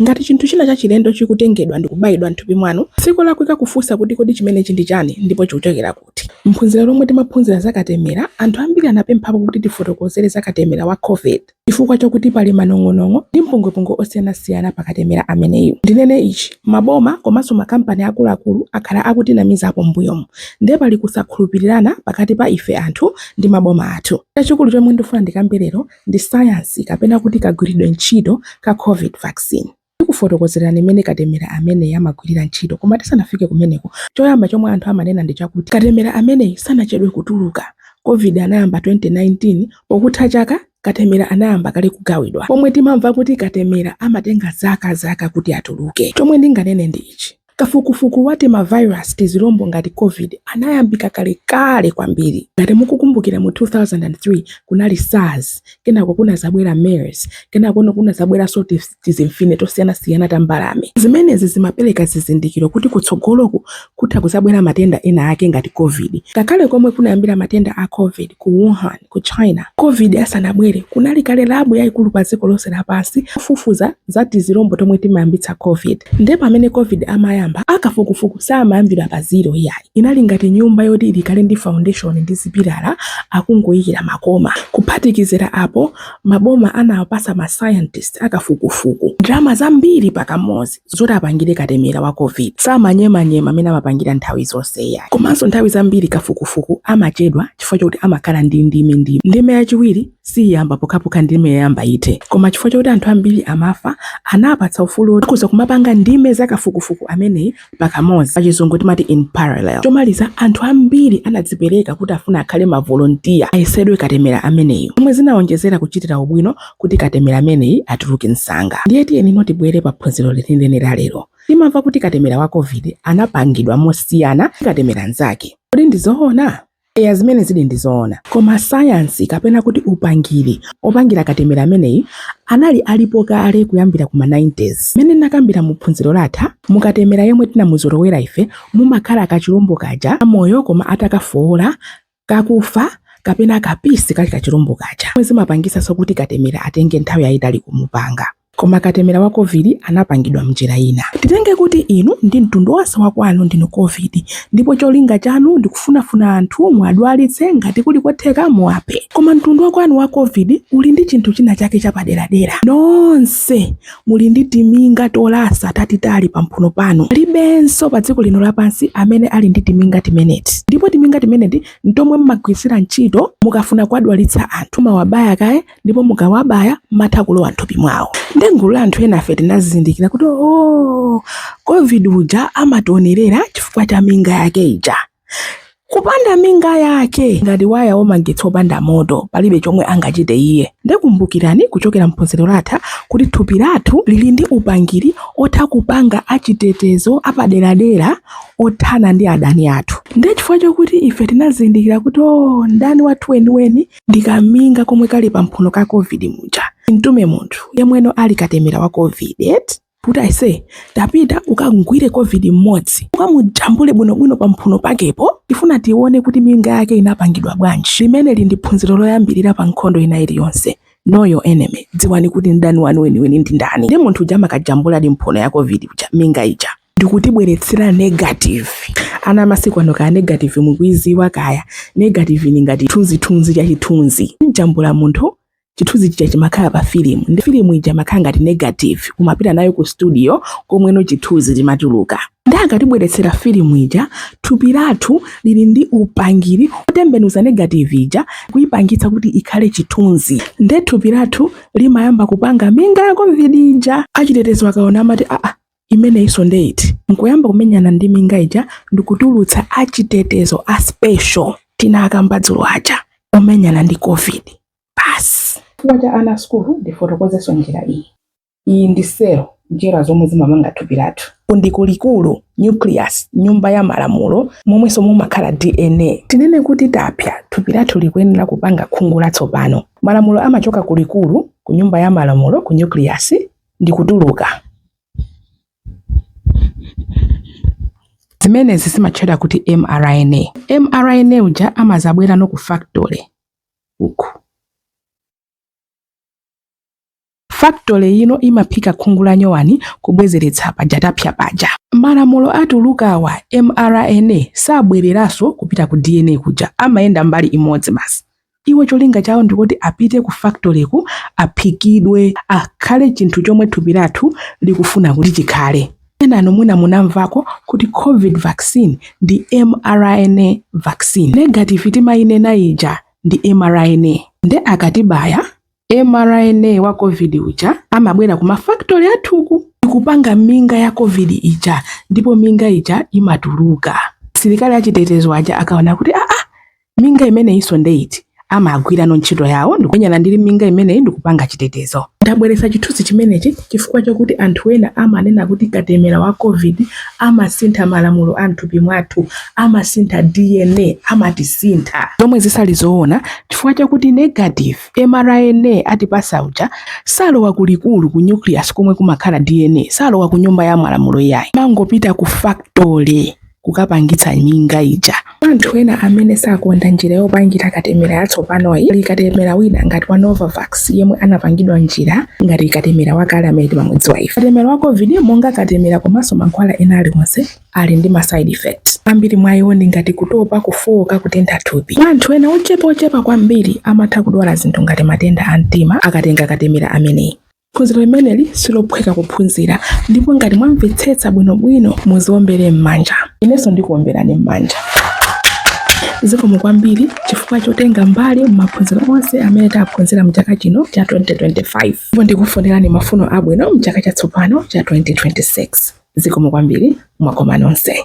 Ngati chinthu china chachilendo chikutengedwa ndi kubayidwa m'thupi mwanu, si kolakwika kufunsa kuti, Kodi chimenechi ndi chani ndipo chikuchokera kuti? M'phunziro lomwe timaphunzira za katemera, anthu ambiri anapemphapo kuti tifotokozere za katemera wa Covid chifukwa chakuti pali manong'onong'o ndi mpungwepungwe osiyanasiyana pa katemera ameneyu. Ndinene ichi, maboma komanso makampani akuluakulu akhala akutinamizapo m'mbuyomu nde pali kusakhulupirirana pakati pa ife anthu ndi maboma athu. Chachikulu chomwe ndifuna ndikambe lero ndi sayansi kapena kuti kagwiridwe ntchito ka Covid vaccine. Ndikufotokozerani mmene katemera ameneyi amagwirira ntchito koma tisanafike kumeneko, choyamba chomwe anthu amanena ndi chakuti katemera ameneyi sanachedwe kutuluka, Covid anayamba 2019, pokutha chaka katemera anayamba kale kugawidwa pomwe timamva kuti katemera amatenga zaka zaka kuti atuluke. Chomwe ndinganene ndi ichi. Kafukufuku wa timavirus, tizilombo ngati Covid anayambika kalekale kwambiri. Ngati mukukumbukira mu 2003 kunali SARS, kenako kunazabwera MERS, kenakono kunazabweranso tizimfine tosiyanasiyana ta mbalame. Zimenezi zimapereka zizindikiro kuti kutsogoloku kutha kuzabwera matenda ena ake ngati Covid. Ngakhale komwe kunayambira matenda a Covid ku Wuhan, ku China covid asanabwere kunali kale labu yaikulu pa dziko lonse lapansi kufufuza za tizilombo tomwe timayambitsa covid nde pamene covid amayamba akafukufuku samayambira pa zero iyayi inali ngati nyumba yoti ili kale ndi foundation ndi zipilala akungoyikira makoma kuphatikizira apo maboma anawapasa ma scientist akafukufuku ndalama zambiri pakamodzi zoti apangire katemera wa Covid. Si manyemanyema amene amapangira nthawi zonse iyayi. Komanso nthawi zambiri kafukufuku amachedwa chifukwa chokuti amakhala ndi ndime ndime. Ndime yachiwiri siyiyamba pokhapokha ndime yoyamba ithe. Koma chifukwa chokuti anthu ambiri amafa, anapatsa ufulu woti akhoza kumapanga ndime za kafukufuku ameneyi pakamodzi. Pachizungu timati in parallel. Chomaliza, anthu ambiri anadzipereka kuti afuna akhale mavolontiya ayesedwe katemera ameneyu, zomwe zinaonjezera kuchitira ubwino kuti katemera ameneyi atuluke msanga. Ndiye tiyeni no tibwere pa phunziro lenileni la lero. Timamva kuti katemera wa Covid anapangidwa mosiyana ndi katemera mnzake. Kodi ndi zoona? Eya, zimene zili ndi zoona. Koma sayansi kapena kuti upangiri opangira katemera ameneyi anali alipo kale kuyambira ku ma 90s. Mmene ndinakambira mu phunziro latha, mu katemera yemwe tinamuzolowera ife mumakhala kachilombo kaja kamoyo koma atakafowola kakufa kapena kapisi kali kachilombo kaja zomwe zimapangitsanso kuti katemera atenge nthawi yayitali kumupanga. Koma katemera wa Covid anapangidwa m'njira ina. Titenge kuti inu ndi mtundu wonse wa kwanu ndinu Covid ndipo cholinga chanu ndi kufunafuna anthu muwadwalitse ngati kuli kotheka muwaphe. Koma mtundu wa kwanu wa Covid uli ndi chinthu china chake chapaderadera. Nonse muli ndi timinga tolasa tatitali pamphuno panu. Palibenso pa dziko lino lapansi amene ali ndi timinga timeneti. Ndipo timinga timeneti ntomwe mmagwiritsira ntchito mukafuna kuwadwalitsa anthu. Mumawabaya kaye ndipo mukawabaya matha kulowa nthupi mwawo. Nde ngulu la anthu enafe tinazindikira kuti oo, Covid uja amationerera chifukwa cha minga yake ija. kupanda minga yake ngati waya wamagetsi opanda moto palibe chomwe angachite iye nde kumbukirani kuchokera mphunziro latha kuti thupi lathu lili ndi upangiri otha kupanga achitetezo apaderadera othana ndi adani athu ndiye chifukwa chokuti ife tinazindikira kuti o oh, mdani wathu weniweni ndikaminga komwe kali pamphuno ka covid muja mtume munthu yemweno ali katemera wa covid kuti aise tapita ukamgwire covid mmodzi ukamujambule bwinobwino pa mphuno pakepo tifuna tione kuti minga yake inapangidwa bwanji limeneli ndi phunziro loyambirira pa nkhondo ina iliyonse know your enemy dziwani kuti mdani wanu weniweni ndi ndani nde munthu uja amakajambuladi mphuno ya covid uja minga ija ndikutibweretsera negative ana amasiku ano kaya negative mukuiziwa kaya negative ni ngati thunzithunzi cha chithunzi mjambula munthu chithunzi chija chimakhala pa filimu nde filimu ija imakhala ngati negative umapita nayo ku studio komweno chithunzi chimatuluka nde akatibweretsera filimu ija thupi lathu lili ndi upangiri otembenuza negative ija kuipangitsa kuti ikhale chithunzi nde thupi lathu limayamba kupanga minga ya covid ija achitetezo akaona amati aa imeneyinso nde iti nkuyamba kumenyana ndi minga ija ndikutulutsa achitetezo a special tinakamba dzulo aja omenyana ndi covid basi chifukwa cha ana asukulu ndifotokozenso njira iyi iyi ndi selo njerwa zomwe zimamanga thupi lathu uku ndi kulikulu nucleus nyumba ya malamulo momwenso mumakhala dna tinene kuti tapsa thupi lathu likuyenera kupanga khungu latsopano malamulo amachoka kulikulu ku nyumba ya malamulo ku nucleus ndikutuluka. Zimenezi zimatchedwa kuti mRNA. mRNA uja amazabwerano ku factory uku. Factory ino imaphika khungu la nyowani kubwezeretsa paja tapsa paja. Malamulo atuluka awa mRNA sabwereranso kupita ku DNA kuja, amayenda mbali imodzi basi. Iwo cholinga chawo ndikuti apite ku factory uku aphikidwe akhale chinthu chomwe thupi lathu likufuna kuti chikhale. Enanu mwina munamvako kuti covid vaccine ndi mRNA vaccine. Negative timayinena ija ndi mRNA. Nde akatibaya mRNA wa Covid uja amabwera ku ma factory athuku ndikupanga minga ya Covid ija ndipo minga ija imatuluka. Asilikali achitetezo aja akaona kuti aa, minga imeneyinso nde iti? amagwirano ntchito yawo ndikumenyana ndi minga imeneyi ndikupanga chitetezo. Ndabweretsa chithunzi chimenechi chifukwa chakuti anthu ena amanena kuti katemera wa Covid amasintha malamulo a m'thupi mwathu, amasintha DNA, amatisintha, zomwe sizili zoona chifukwa chakuti negative mRNA atipatsa uja salowa ku likulu ku nucleus komwe kumakhala DNA, salowa ku nyumba ya malamulo iyayi, amangopita ku factory kukapangitsa minga ija. Anthu ena amene sakonda njira yopangira katemera yatsopanoyi pali katemera wina ngati wa Novavax yemwe anapangidwa njira ngati katemera wakale amene timamudziwa ife. Katemera wa COVID monga katemera komanso mankhwala ena aliwonse ali ndi ma side effects ambiri mwa iwo ndi ngati kutopa, kufowoka, kutentha thupi. Mwa anthu ena ochepa ochepa kwambiri amatha kudwala zinthu ngati matenda a mtima akatenga katemera ameneyi. Phunziro limeneli silophweka kuphunzira ndipo ngati mwamvetsetsa bwinobwino muziwombere m'manja. Inenso ndikuwomberani m'manja. Zikomo kwambiri chifukwa chotenga mbali m'maphunziro onse amene taphunzira m'chaka chino cha 2025. Ndipo ndikufunirani mafuno abwino mchaka chatsopano cha 2026. Zikomo kwambiri mwakoma nonse.